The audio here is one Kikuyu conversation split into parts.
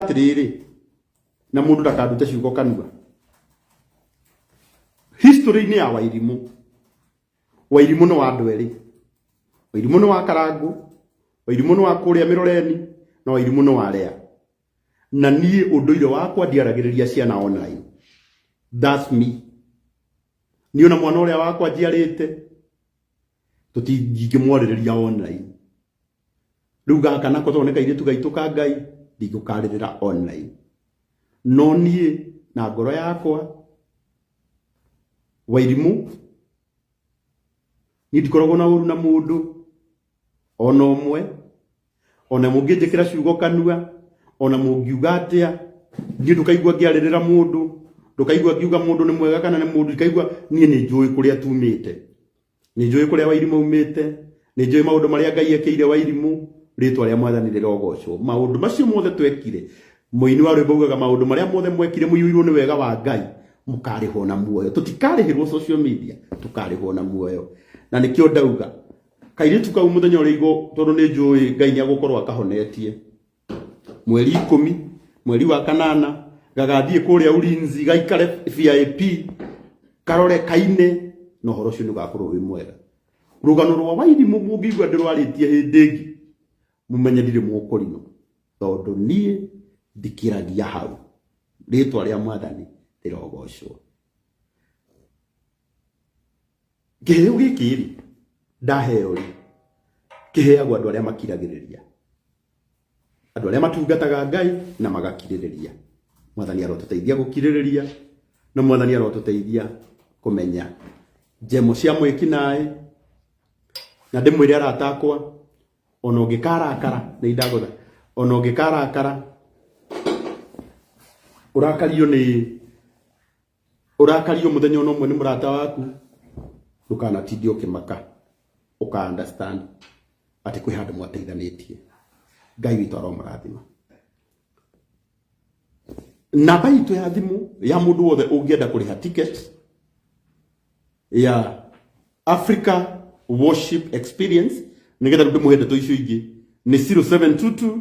atiriri na mundu ndakandute ciugo kanua history ni ya wairimu wairimu ni wa andu eri wairimu ni wa karangu wairimu ni wa kuria miroreni na wairimu ni wa rea na nie unduire wakwa ndiaragiriria ciana online that's me niona mwana uria wakwa njiarite tutingĩmwarĩrĩria online riu gaka nako tondũ nĩ kairĩtu gaitũ ka ngai ndingĩkarĩrĩra online no niĩ na ngoro yakwa wairimũ niĩ ndikoragwo na ũru na mũndũ ona ũmwe ona mũngĩnjĩkĩra ciugo kanua ona mũngiuga atĩa niĩ ndũkaigua ngĩarĩrĩra mũndũ ndũkaigua ngiuga mũndũ nĩ mwega kana nĩ mũndũ ndikaigua niĩ nĩ njũĩ kũrĩa tumĩte nĩ njũĩ kũrĩa wairimũ umĩte nĩ njũĩ maũndũ marĩa ngai ekĩire wairimũ rĩtwa rĩa mwathani rĩrogocwo maũndũ macio mothe twekire mũini wa rwĩmbo ugaga maũndũ marĩa mothe mwekire mũiyũirwo nĩ wega wa ngai mũkarĩhwo na muoyo tũtikarĩhĩrwo social media tũkarĩhwo na muoyo na nĩkĩo ndauga kairĩtu kau mũthenya ũrĩa igũ tondũ nĩ njũĩ ngai nĩ agũkorwo akahonetie mweri ikũmi mweri wa kanana gagathiĩ kũrĩa ulinzi gaikare vip karore kaine na ũhoro ũcio nĩ ũgakorwo wĩ mwega rũgano rwa wairimu mũngĩigua ndĩrwarĩtie hĩndĩ ĩngĩ mumenye ndirĩ mũkũrino tondũ niĩ ndikĩragia hau rĩtwa rĩa mwathani rĩrogocwo kĩheo gĩkĩ rĩ ndaheo rĩ kĩheagwo andũ arĩa makiragĩrĩria andũ arĩa matungataga Ngai na magakirĩrĩria mwathani arotũteithia gũkirĩrĩria na mwathani arotũteithia kũmenya njemo cia mwĩki naĩ na ndĩmwĩre aratakwa ona ũngĩkarakara nĩ indagũtha ona ũngĩkarakara ũrakario nĩ ũrakario mũthenya ona ũmwe nĩ mũrata waku ndũkanatinde ũkĩmaka ũka understand atĩ kwĩ handũ mwateithanĩtie ngai witũ aromũrathima namba itũ ya thimũ ya mũndũ wothe ũngĩenda kũrĩha ticket ya africa worship experience nĩgetha rĩu ndĩmũhe ndeto icio ingĩ nĩ 0722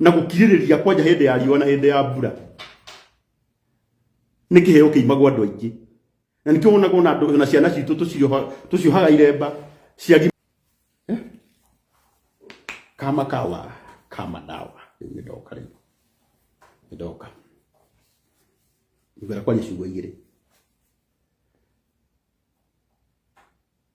na gukiririria kwanja hindi ya riũa na hindi ya mbura nĩ kĩheo kĩimagwo andũ aingĩ na nĩkĩo wonaga ona andũ na ciana citũ tũcioha- tũciohaga iremba ciagi Eh? kama kawa kama dawa rĩu nĩ ndoka rĩu nĩ ndoka ngwĩra kwanja ciugo igĩrĩ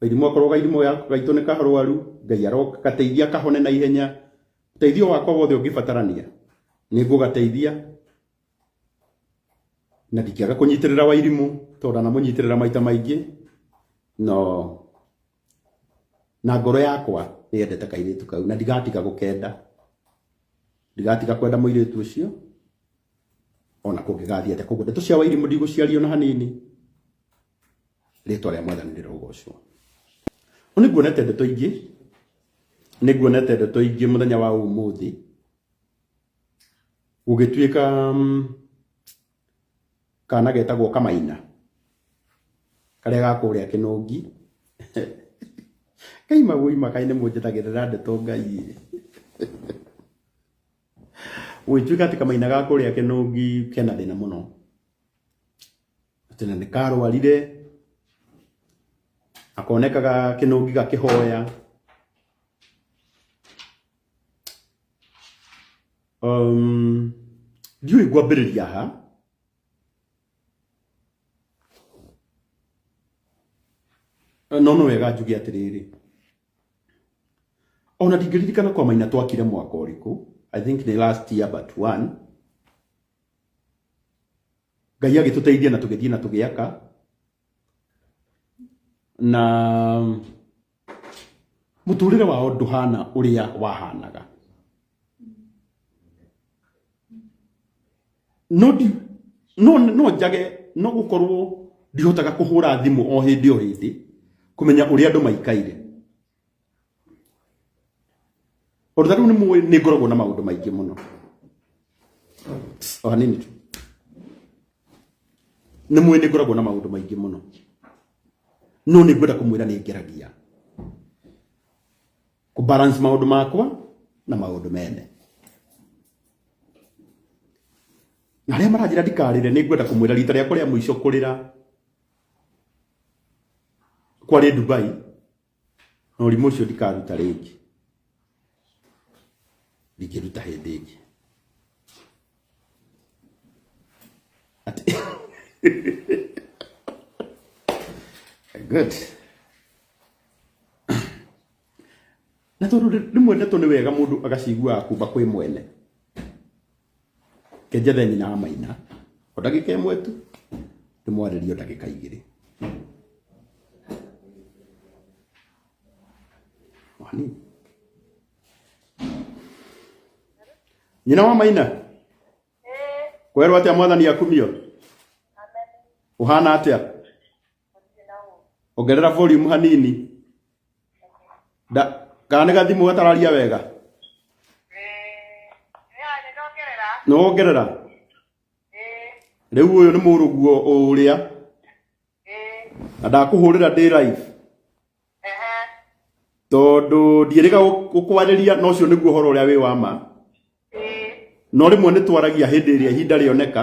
Gaithimo akorwo gaithimo yaku gaitũ nĩ karwaru, Ngai aroka gateithia kahone na ihenya. Ũteithio wakwa wothe ũngĩbatarania nĩ ngũgateithia na ndikĩaga kũnyitĩrĩra wairimũ tondũ ndanamũnyitĩrĩra maita maingĩ no na ngoro yakwa nĩ yendete kairĩtu kau na ndigatiga gũkenda ndigatiga kwenda mũirĩtu ũcio ona kũngĩgathiĩ atĩa koguo ndeto cia wairimũ ndigũciaria ona hanini. rĩtwa rĩa mwathani rĩrogocwo nĩ nguonete ndeto ingĩ nĩ nguonete ndeto ingĩ mũthenya wa ũmũthĩ gũgĩtuĩka mm, kana getagwo kamaina karĩa gakũrĩa kĩnũngi kai magũi makai nĩ mũnjĩtagĩrĩra ndeto ngai gũgĩtuĩka atĩ kamaina gakũrĩa kĩnũngi kena thĩna mũno atĩ na nĩkarwarire akonekaga kĩnũngi gakĩhoya um, ndiũĩ ngwambĩrĩria ha no no wega njuge atĩrĩrĩ ona ndingĩririkana kwa maina twakire mwaka ũrĩkũ i think the last year but one Ngai agĩtũteithia na tũgĩthiĩ na tũgĩaka na mũtũrĩre wao ndũhana ũrĩa wahanaga no ndi no no njage no gukorwo ndihotaga kuhura thimu o hindi o hindi kumenya uri andu maikaire Ũndũ rĩu nĩ mũĩ nĩ ngoragwo na maũndũ maingĩ mũno o hanini tu nĩ mũĩ nĩ ngoragwo na maũndũ maingĩ mũno no nĩ ngwenda kũmwĩra nĩ ngeragia kũ balance maũndũ makwa na maũndũ mene na arĩa maranjĩra ndikarĩre nĩ ngwenda kũmwĩra rita rĩakwa rĩa mũico kũrĩra kwarĩ Dubai na ũrimũ ũcio ndikaruta rĩngĩ ndingĩruta hĩndĩ ĩngĩ Ati- good na tondũ rĩmwe ndeto nĩ wega mũndũ agaciguaga kumba kwĩ mwene kenjethe nyina wa maina o ndagĩka ĩmwe tu ndĩmwarĩrie o ndagĩka igĩrĩ O hanini. nyina wa maina kwerwo atĩa mwathani akumio ũhana atĩa ongerera volume hanini da kana nĩ gathimũ gatararia wega nĩ wongerera rĩu ũyũ nĩ mũrũguo ũrĩa na ndakũhũrĩra ndĩ live tondũ ndiĩrĩga gũkwarĩria na ũcio nĩguo ũhoro ũrĩa wĩ wa ma no rĩmwe nĩ twaragia hĩndĩ ĩrĩa ihinda rĩoneka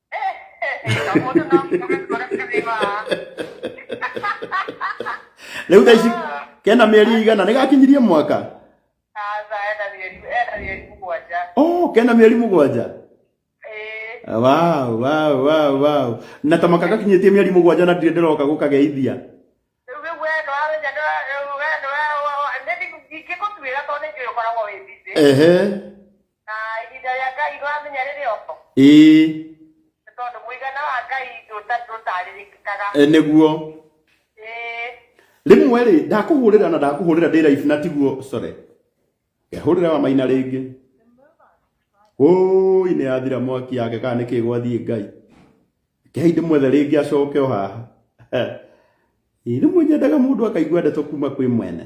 rä u thaici kena mä eri igana nä gakinyirie mwaka Sasa ena mieri ena mieri mugwanja. oh, kena mä eri må gwanja Eh, wow, wow, wow, wow. na ta maka gakinyä tie mä eri må gwanja na ndirä ndä roka gå kageithia rĩu rĩu we no arenya no rĩu we no we nĩ ndingĩkũtuĩra tondũ nĩ njũĩ ũkoragwo wĩ busy. ehe Na ihinda rĩa Ngai ndũramenya rĩrĩ oko. ĩĩ Nĩ tondũ mũigana wa Ngai ndũta- ndũtarĩrĩkaga. e, nĩguo Ĩĩ. rĩmwe rĩ ndakũhũrĩra na ndakũhũrĩra ndĩ raibu na tiguo sore ngehũrĩra wa maina rĩngĩ ũi nĩ yathira mwaki yake kana nĩkĩ gwathiĩ ngai kehei ndĩmwethe rĩngĩ acoke o haha Ĩ, rĩmwe nyendaga mũndũ akaigua ndeto kuma kwĩ mwene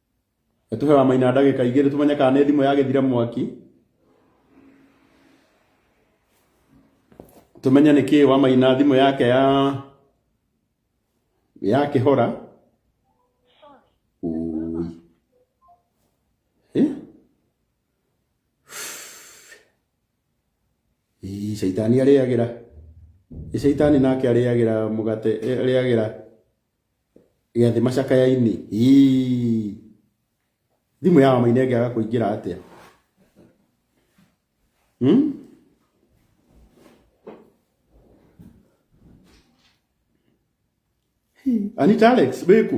Tuhe wa maina ndagĩka igĩrĩ tũmenye kana nĩ thimũ yagĩthira mwaki tũmenye nĩ kĩĩ wa maina thimũ yake ya ya kĩhora Ũi. Eh? Ii, shaitani arĩagĩra Ĩ shaitani nake arĩagĩra mũgate eh, arĩagĩra Gĩathĩ macakaya-inĩ. Ii. Thimũ ya Wamaina ĩngĩaga kũingĩra atĩa? Hmm? Anita Alex, wĩku?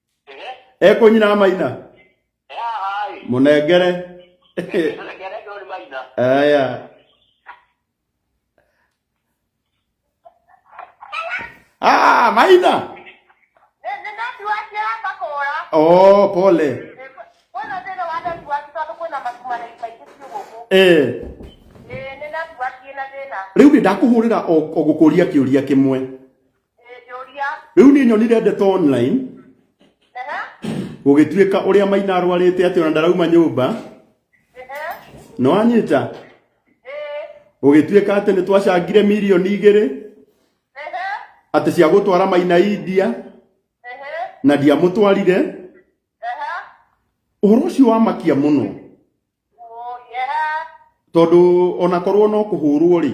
ekũnyina amaina mũnengere aya Ah, maina oh pole eh riu ni ndakuhurira o gukuria kiuria kimwe rĩu niĩ nyonire ndeto online gũgĩtuĩka ũrĩa maina arwarĩte atĩ ona ndarauma nyũmba no anyita gũgĩtuĩka atĩ nĩ twacangire mirioni igĩrĩ atĩ cia gũtwara maina India na ndiamũtwarire ũhoro ũcio wamakia mũno tondũ onakorwo no kũhũrwo rĩ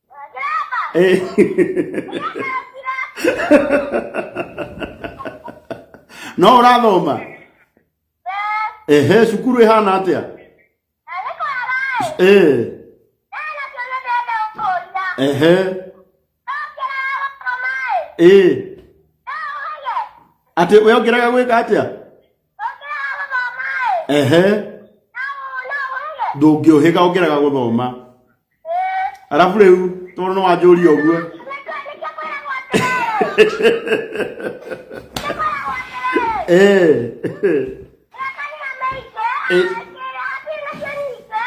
Eh. no ũrathoma ehe cukuru ĩhana atĩa Eh. ehe Eh. atĩ wĩongeraga gwĩka atĩa ehe ndũngĩũhĩga ũngĩraga gũthoma arabu rĩu tondũ nĩ wanjũria ũguo Eh. Eh.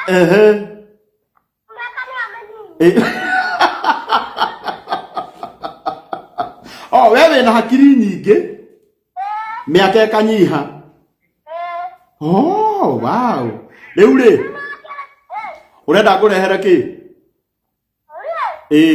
Ehe. o we wĩna hakiri nyingĩ mĩaka ĩkanyiha oh, wow. rĩu rĩ ũrenda ngũrehere kĩ ĩĩ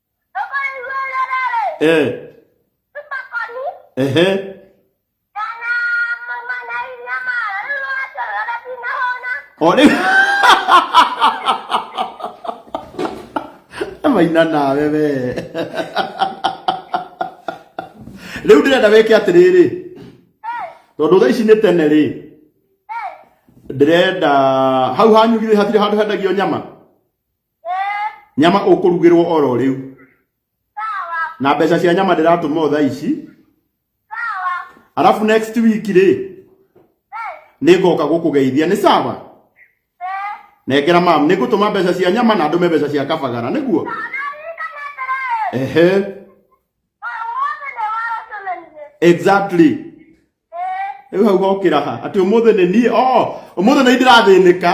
eh ehe Ode. Maina nawe we. Rĩu ndĩrenda wĩke atĩrĩrĩ. Tondũ thaa ici nĩ tene rĩ. Ndĩrenda hau hanyu githĩ hatirĩ handũ hendagio nyama. nyama ũkũrugĩrwo oro rĩu na mbeca cia nyama ndĩratũma o thaa ici arabu next week rĩ nĩ ngoka gũkũgeithia nĩ sawa nengera mam nĩ ngũtũma mbeca cia nyama na ndũme mbeca cia kabagara nĩguo ehe exactly rĩu hau hokĩra ha atĩ ũmũthĩ nĩ niĩ o ũmũthĩ nĩ ndĩrathĩnĩka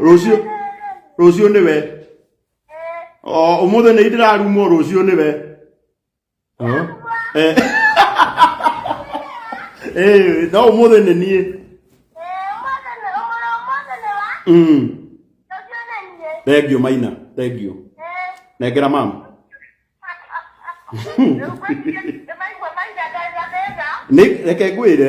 rũciũ rũciũ nĩwe o ũmũthĩ nĩ ndĩrarumwo rũciũ nĩwe Huh? Eh. Eh, no ũmũthĩ nĩ niĩ Mm. thengiũ maina thengiũ nengera mama Nĩ- reke ngwĩre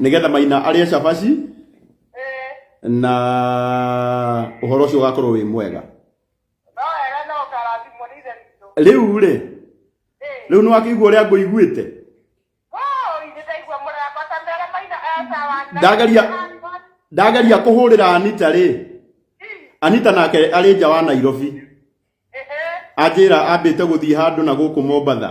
nĩgetha maina arĩa cabaci na ũhoro ũcio ũgakorwo wĩ mwega rĩu rĩ rĩu nĩ wakĩigua ũrĩa ngũiguĩte ndageria ndageria kũhũrĩra anita rĩ anita nake arĩ nja wa nairobi anjĩra ambĩte gũthiĩ handũ na gũkũ mombatha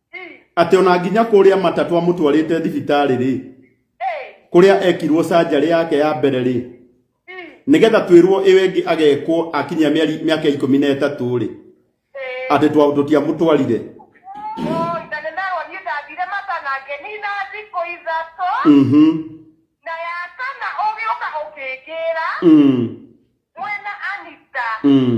atĩ ona nginya kũrĩa matatũ amũtwarĩte thibitarĩ rĩ kũrĩa ekirwo sanjarĩ yake ya mbere rĩ nĩgetha twĩrwo ĩyo ĩngĩ agekwo akinyia mĩeri mĩaka ikũmi na ĩtatũ rĩ atĩ twa- tũtiamũtwarire Ithe nĩ merwo niĩ ndathire mata na ngenina thikũ ithatũ Mhm, na ya kana ũgĩũka ũkĩngĩra mm, mwena Anita mm.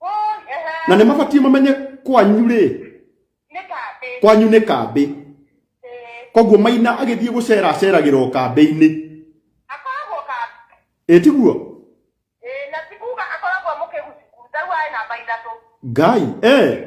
Oh, ehe. na nä mabatiä mamenye kwanyu rä Nĩ kambĩ. kwanyu nä kambä Eh, koguo maina agä thiä gå cera aceragä ra o kambä-inä akoragwo kambĩ. ä tiguo Eh, na ti kuga akoragwo mũkĩgucukuru. Tarĩu arĩ namba ithatũ. ngai eh.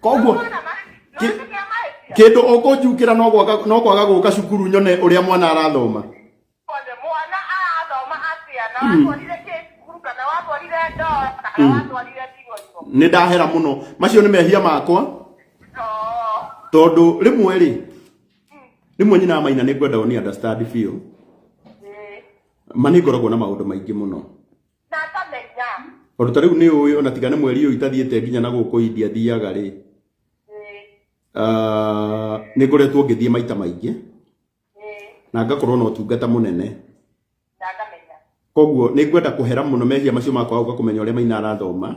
koguo ki- kindu ukunjukira no gwaga no kwaga guka cukuru nyone uria mwana arathoma Kwanza mwana arathoma atĩa na watwarire kĩcukuru kana watwarire ndoo kana watwarire ndigoigo ni ndahera muno macio ni mehia makwa oo tondu rimwe ri rimwe nyina maina ni ngwenda ni understand biũ ma nĩ ngoragwo na maũndũ maingĩ mũno na akamenya O ta rĩu nĩ ũĩ ona tiga nĩ mweri ũyũ itathiĩte nginya na gũkũ India thiaga rĩ, Ĩĩ, ah, nĩ ngoretwo ngĩthiĩ maita maingĩ ĩĩ, na ngakorwo na ũtungata mũnene. na akamenya Koguo nĩ ngwenda kũhera mũno mehia macio makwa ũka kũmenya ũrĩa maina arathoma.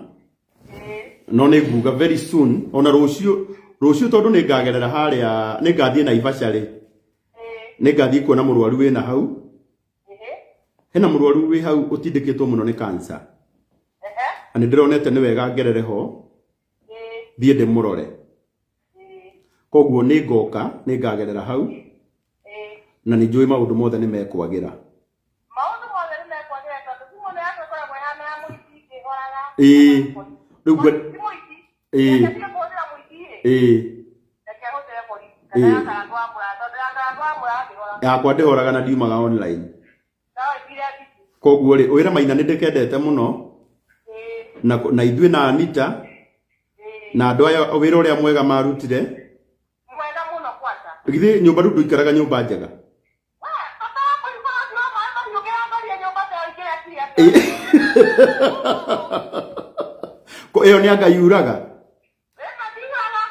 Ĩĩ, No nĩ nguga very soon ona rũciũ rũciũ tondũ nĩ ngagerera harĩa nĩ ngathiĩ Naivasha rĩ, ĩĩ, nĩ ngathiĩ kuona mũrwaru wĩna hau hena mũrwaru wĩ hau ũtindĩkĩtwo mũno nĩ kansa na nĩ ndĩronete nĩ wega ngerere ho thiĩ ndĩmũrore koguo nĩ ngoka nĩ ngagerera hau na nĩ njũĩ maũndũ mothe nĩ mekwagĩra maũndũ mothe nĩ mekwagĩra tondũ thimũ ĩno yaku ĩkoragwo ĩhana ya mũici ndĩhoraga ĩĩ rĩu ngwe- eh na ndio kwa ndio mwingine eh na kia hote ya polisi Eh. na ndio kwa kwa mura ndio ndio kwa mura ndio yakwa ndĩhoraga na ndiumaga online sawa bila kitu koguo rĩ wĩra maina nĩ ndĩkendete mũno eh na, na ithuĩ na anita eh na andũ aya wĩra ũrĩa mwega marutire mwenda muno kwanza githĩ nyũmba rĩu ndũikaraga nyũmba njega Ko ĩyo nĩ anga yuraga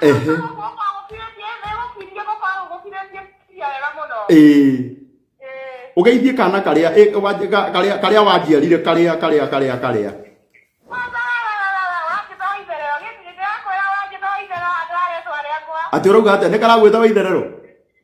Ehe. ĩĩ ũgeithie kana karĩa ĩ, wanj- ka- karĩa karĩa wanjiarire karĩa karĩa karĩa karĩa atĩ ũrauga atĩa nĩ karagwĩta wa itherero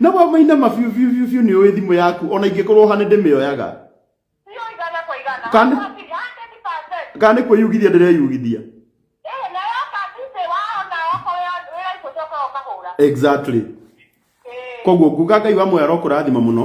na wa maina mabiu biu biu biu nĩ ũĩ thimũ yaku ona ingĩkorwo hane ndĩmĩoyaga Kana- kana nĩ kwĩyugithia ndĩreyugithia exactly koguo nguga ngai wa moyo arokũrathima mũno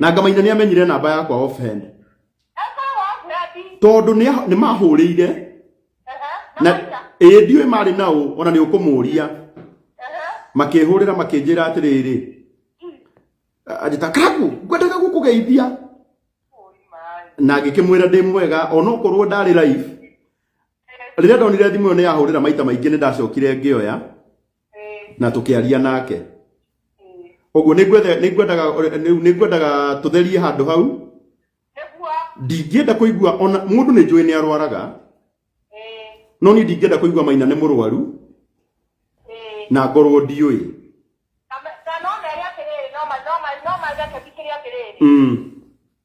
na ngamaina nĩ amenyire namba yakwa offhand tondũ nĩ- nĩ mahũrĩire na ĩĩ ndiũĩ marĩ na ũ ona nĩ ũkũmũria makĩhũrĩra makĩnjĩra atĩrĩrĩ anjĩta kaku ngwendaga gũkũgeithia na ngĩkĩmwĩra ndĩ mwega ona okorwo ndarĩ live rĩrĩa ndonire thimũ ĩyo nĩ yahũrĩra maita maingĩ nĩ ndacokire ngĩoya na tukiaria nake uguo ningwetha ningwendaga rĩu ningwendaga tutherie handu hau nĩguo ndingĩenda kũigua ona mũndũ nĩ njũĩ nĩ arwaraga ĩĩ no niĩ ndingĩenda kũigua maina nĩ mũrwaru ĩĩ na ngorwo ndiũĩ na na no mere atĩrĩrĩ no ma no ma no ma rekebicĩria atĩrĩrĩ mm.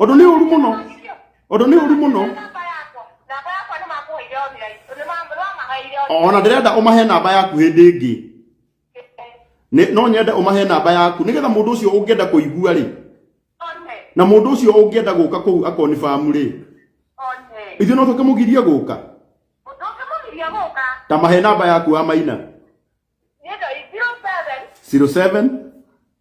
ũndũ nĩ ũru mũno ũndũ nĩ ũru mũno ona ndĩrenda ũmahe namba yaku hĩndĩ ĩngĩ Nĩ- no nyende ũmahe namba yaku nĩgetha mũndũ ũcio ũngĩenda kũigua rĩ na mũndũ ũcio ũngĩenda gũka kũu akonibamu rĩ ithuĩ no tũkĩmũgirie gũka ta mahe namba yaku wa maina 07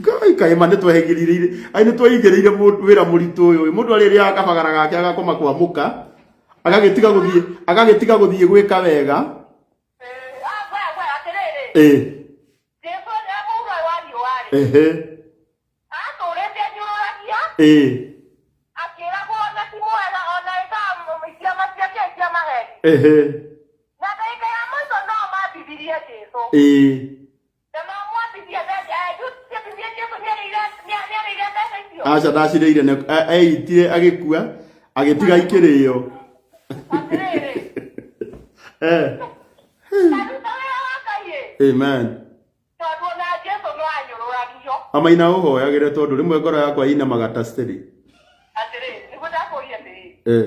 Ngai kaĩ ma nĩtwehĩgĩrĩire ai nĩtweigĩrĩire mũndũ wĩra mũritũ ũyũ ĩ. Mũndũ arĩrĩaga kabagara gake agakoma kwa mũka agagĩtiga gũthiĩ agagĩtiga gũthiĩ gwĩka wega ĩ ehe ĩ ehe ĩ. aca ndacirĩire nĩ- e- eĩtire agĩkua agĩtiga ikĩrĩo Eh, amen amaina ũhoyagĩre tondũ rĩmwe ngoro yakwa inamaga ta steri eh.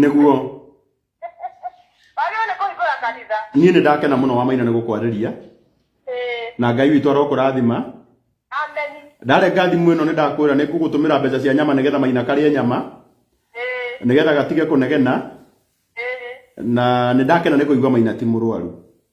nĩguo niĩ nĩ ndakena mũno wa maina nĩ gũkwarĩria na ngai witũ arokũrathima ndarenga thimũ ĩno nĩ ndakwĩra nĩ ngũgũtũmĩra mbeca cia nyama nĩgetha maina karĩe nyama nĩgetha gatige kũnegena na nĩ ndakena nĩ kũigua maina ti mũrwaru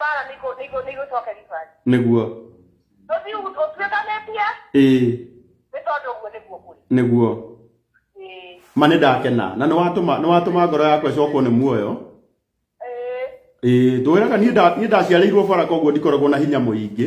bara nĩ igũ- nĩ igũ- nĩ igũcoka ribari nĩguo ũthiĩ ũgu- ũtuĩkanĩtie ĩ nĩ tondũ ũguo nĩguo kũrĩ nĩguo Ĩĩ. ma nĩ ndakena na nĩ watũma nĩ watũma ngoro yakwa ĩcokwo nĩ muoyo Ĩĩ. ĩ tũwĩraga niĩ nda- niĩ ndaciarĩirwo bara koguo ndikoragwo na hinya mũingĩ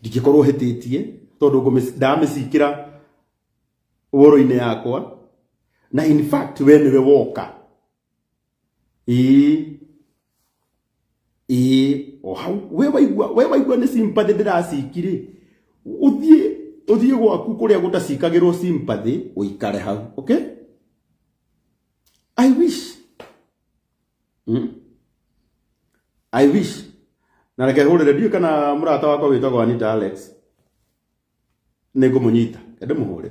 ndingĩkorwo hĩtĩtie tondũ ngũmĩ- ndamĩcikĩra woro-inĩ yakwa na in fact we nĩwe woka ĩĩ ĩĩ o hau we waigua we waigua nĩ sympathy ndĩracikirĩ ũthiĩ ũthiĩ gwaku kũrĩa gũtacikagĩrwo sympathy ũikare hau okay i wish Hmm? I wish. Na reke hurire ndiũ kana mũrata wakwa wĩtagwo Anita Alex. Nĩ ngũmũnyita. Ende mũhũre.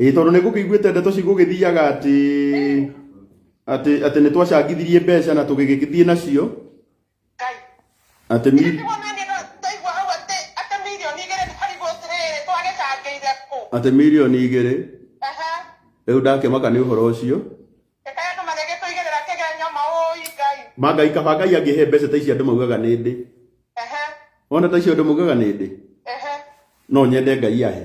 ĩĩ tondũ nĩ ngũkĩiguĩte ndeto cigũgĩthiaga atĩ atĩ atĩ nĩ twacangithirie mbeca na tũgĩgĩthiĩ nacio Ngai. atĩ Nĩ mi- kuona nĩ na ndaigua hau atĩ atĩ milioni igĩrĩ nĩ harigũ atĩrĩrĩ twagĩcangĩire kũ. atĩ mirioni igĩrĩ Aha. rĩu ndakĩmaka nĩ ũhoro ũcio Reka andũ magĩgĩtũigĩrĩra kĩgenyo maũi Ngai. mangai kaba ngai angĩhe mbeca ta ici andũ maugaga nĩ ndĩ Aha. ona ta icio andũ maugaga nĩ ndĩ Aha. no nyende ngai ahe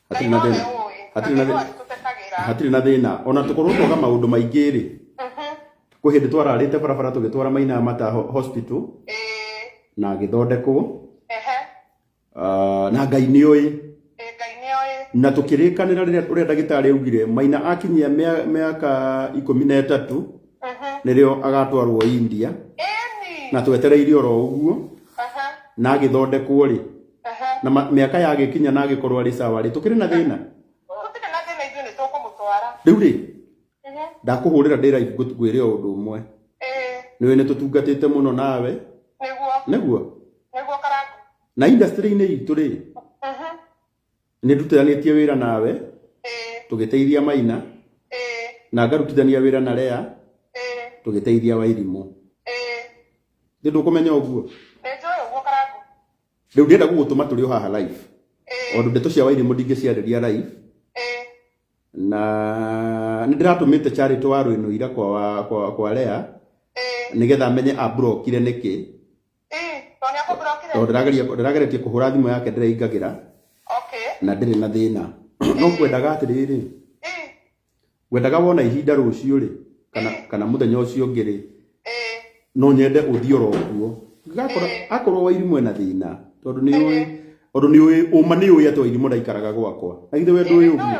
hatirĩ na thĩna hatirĩ na thĩna hatirĩ na thĩna ona tũkorwo twaga maũndũ maingĩ rĩ mhm. kwĩ hĩndĩ twararĩte barabara tũgĩtwara maina ya mata hospital na agĩthondekwo ah, na ngai nĩ ũĩ na tũkĩrĩkanĩra rĩrĩa ũrĩa ndagĩtarĩ augire maina akinyia mĩaka ikũmi na ĩtatũ mhm. nĩrĩo agatwarwo india na twetereire oro ũguo na agĩthondekwo rĩ Ehe. na ma- mĩaka yagĩkinya na agĩkorwo arĩ sawa rĩ tũkĩrĩ na thĩna Gũtirĩ na thĩna ithuĩ nĩ tũkũmũtwara. rĩu rĩ Ehe. ndakũhũrĩra ndĩra ngwĩre o ũndũ ũmwe Ĩĩ, nĩwe nĩ tũtungatĩte mũno nawe nĩguo, nĩguo nĩguo karangu. na industry-inĩ itũ rĩ Mhm. nĩ ndutanĩtie wĩra nawe ĩĩ, tũgĩteithia maina ĩĩ, na ngarutithania wĩra na rea ĩĩ, tũgĩteithia wairimũ ĩĩ. nĩ ndũkũmenya ũguo Nĩ njũĩ ũguo karangũ. rĩu ndĩenda gũgũtũma tũrĩ o haha live Ĩĩ, tondũ ndeto cia wairimũ ndingĩciarĩria live ĩĩ, na nĩ ndĩratũmĩte charity wa rwĩno ira kwa, wa- kwa, kwa rea ĩĩ, nĩgetha menye abrokire nĩkĩ ndĩrageretie kũhũra thimũ yake ndĩraingagĩra na ndĩrĩ na thĩna no kwendaga atĩrĩrĩ wendaga wona ihinda rũciũ rĩ kana mũthenya ũcio ũngĩ rĩ no nyende ũthiĩ oro kuo akorwo wairimũ ena thĩna tondũ nĩ ũĩ tondũ nĩ ũĩ ũma nĩ ũĩ atĩ wairimũ ndaikaraga gwakwa na githĩ we ndũĩ ũguo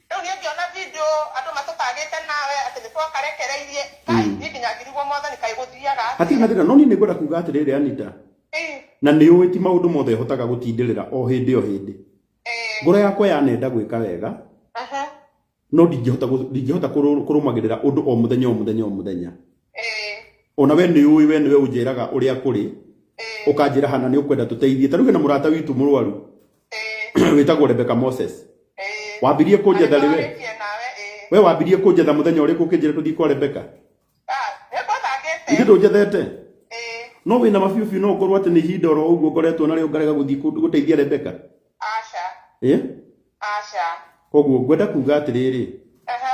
Rĩu niĩ ngĩona video andũ matũtagĩte nawe atĩ nĩtwakarekereirie, Kai, niĩ nginya ngĩrigwo mwathani kaĩ gũthiaga atĩa. Hatirĩ na thĩna, no niĩ nĩngwenda kuuga atĩrĩrĩ, Anita, Ĩĩ. na nĩũĩ ti maũndũ mothe hotaga gũtindĩrĩra o hĩndĩ o hĩndĩ. Ĩĩ. Ngoro yakwa yanenda gwĩka wega, Aha. no ndingĩhota gũ- ndingĩhota kũrũ- kũrũmagĩrĩra ũndũ o mũthenya o mũthenya o mũthenya. Ĩĩ. O na we nĩũĩ we nĩwe ũnjĩraga ũrĩa kũrĩ, Ĩĩ. ũkanjĩra hana nĩũkwenda tũteithie. Ta rĩu hena mũrata witũ mũrwaru, ĩĩ wĩtagwo rebeka moses ĩĩ wambirie kũnjetha rĩ we Arĩkĩtie nawe ĩĩ we wambirie kũnjetha mũthenya ũrĩkũ ũkĩnjĩra tũthiĩ kwa rebeka Ah, nĩngũthakĩte ithe ndũnjethete ĩĩ no wĩna mabiũbiũ no ngorwo atĩ nĩ ihinda oro ũguo ngoretwo narĩo ngarega gũthiĩ kũ- gũteithia rebeka aca ĩ aca koguo ngwenda kuga atĩrĩrĩ aha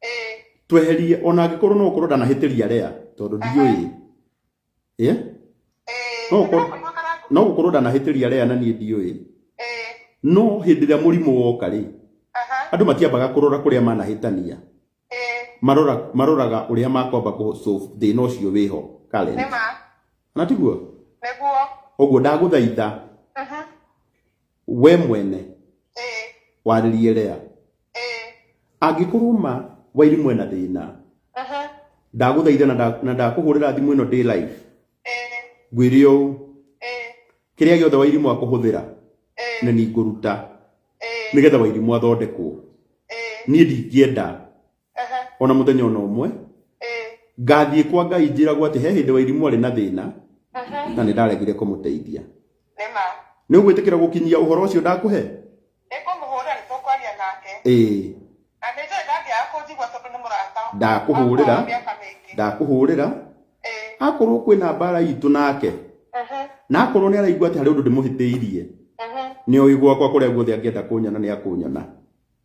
Eh, tweherie ona angĩkorwo no ũkorwo ndanahĩtĩria rea tondũ ndiũĩ ĩ eh, No ũkorwo- ndĩrakũigua karangu. no gũkorwo ndanahĩtĩria rea na niĩ ndiũĩ Eh, no hĩndĩ ĩrĩa mũrimũ woka rĩ aha, andũ matiambaga kũrora kũrĩa manahĩtania eh, marora maroraga ũrĩa makwamba kũ solve thĩna ũcio wĩho nĩ Karen ma, na tiguo nĩguo. ũguo ndagũthaitha Mhm, we mwene eh, warĩrie lea eh, angĩkorwo ma wairimũ ena thĩna aha, ndagũthaitha na nda- na ndakũhũrĩra thimũ ĩno ndĩ live eh, ngwĩre ũũ eh, kĩrĩa gĩothe wairimũ akũhũthĩra eh, nĩ ningũruta eh, nĩgetha wairimũ athondekwo eh, niĩ ndingĩenda Aha. o na mũthenya o na ũmwe Eh. ngathiĩ kwa ngai njĩragwo atĩ he hĩndĩ wairimũ arĩ na thĩna Aha. na nĩ ndaregire kũmũteithia Nĩ ma. nĩ ũgwĩtĩkĩra gũkinyia ũhoro ũcio ndakũhe Nĩ ngũmũhũrĩra nĩ tũkwaria nake. ĩĩ Na nĩ njũĩ ndangĩaga kũnjigua tondũ nĩ mũrata. Ndakũhũrĩra. Wa mĩaka mĩingĩ. ndakũhũrĩra Eh. akorwo kwĩna mbara itũ nake Aha. na akorwo nĩ araigua atĩ harĩ ũndũ ndĩmũhĩtĩirie Aha. nĩ oĩ gwakwa kũrĩa guothe angĩenda kũnyona nĩ akũnyona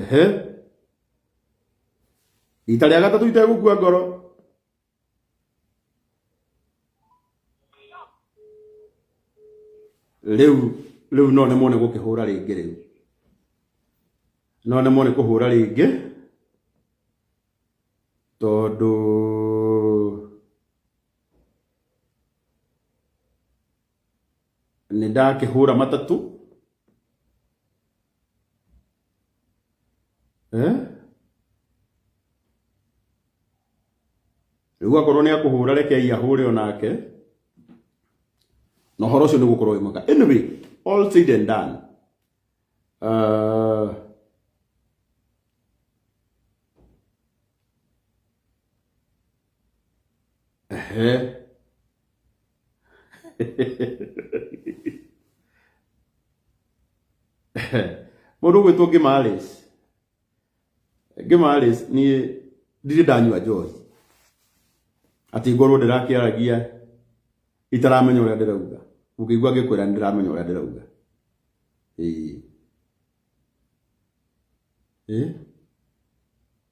ehe rita rĩa gatatũ itegũkua ngoro rĩu rĩu no nĩ mone gũkĩhũra rĩngĩ rĩu no nĩ mone kũhũra rĩngĩ tondũ nĩ ndakĩhũra matatũ eh? rĩu akorwo nĩ akũhũra rekei ahũre o nake na ũhoro ũcio nĩ gũkorwo wĩ mwega anyway all said and done uh, Ehe. Mũndũ gwĩtwo Gimalis. Gimalis ni ndirĩ ndanyua njohi. Atĩ ngorwo ndĩrakĩaragia itaramenya ũrĩa ndĩrauga. Ũngĩigua ngĩkwĩra nĩ ndĩramenya ũrĩa ndĩrauga. Ĩĩ. Ĩĩ.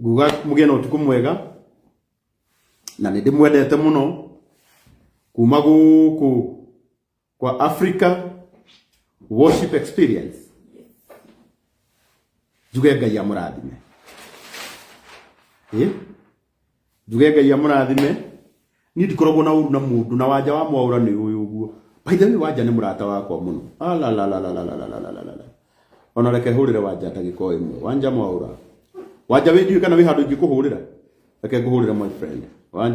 nguga mũgĩe na ũtukũ mwega na nĩ ndĩmwendete mũno kuma gũkũ kwa Africa worship experience njuge ngai amũrathime ĩ njuge ngai amũrathime niĩ ndikoragwo na ũru na mũndũ na wanja wa mwaũra nĩ ũyũ ũguo by the way wanja nĩ mũrata wakwa mũno Alalalalalalalalalalala. ona reke hũrĩre wanja ndagĩko ĩmwe wanja mwaũra wanja wĩnjui kana wĩ handũ ingĩkũhũrĩra reke ngũhũrĩre my friend wanja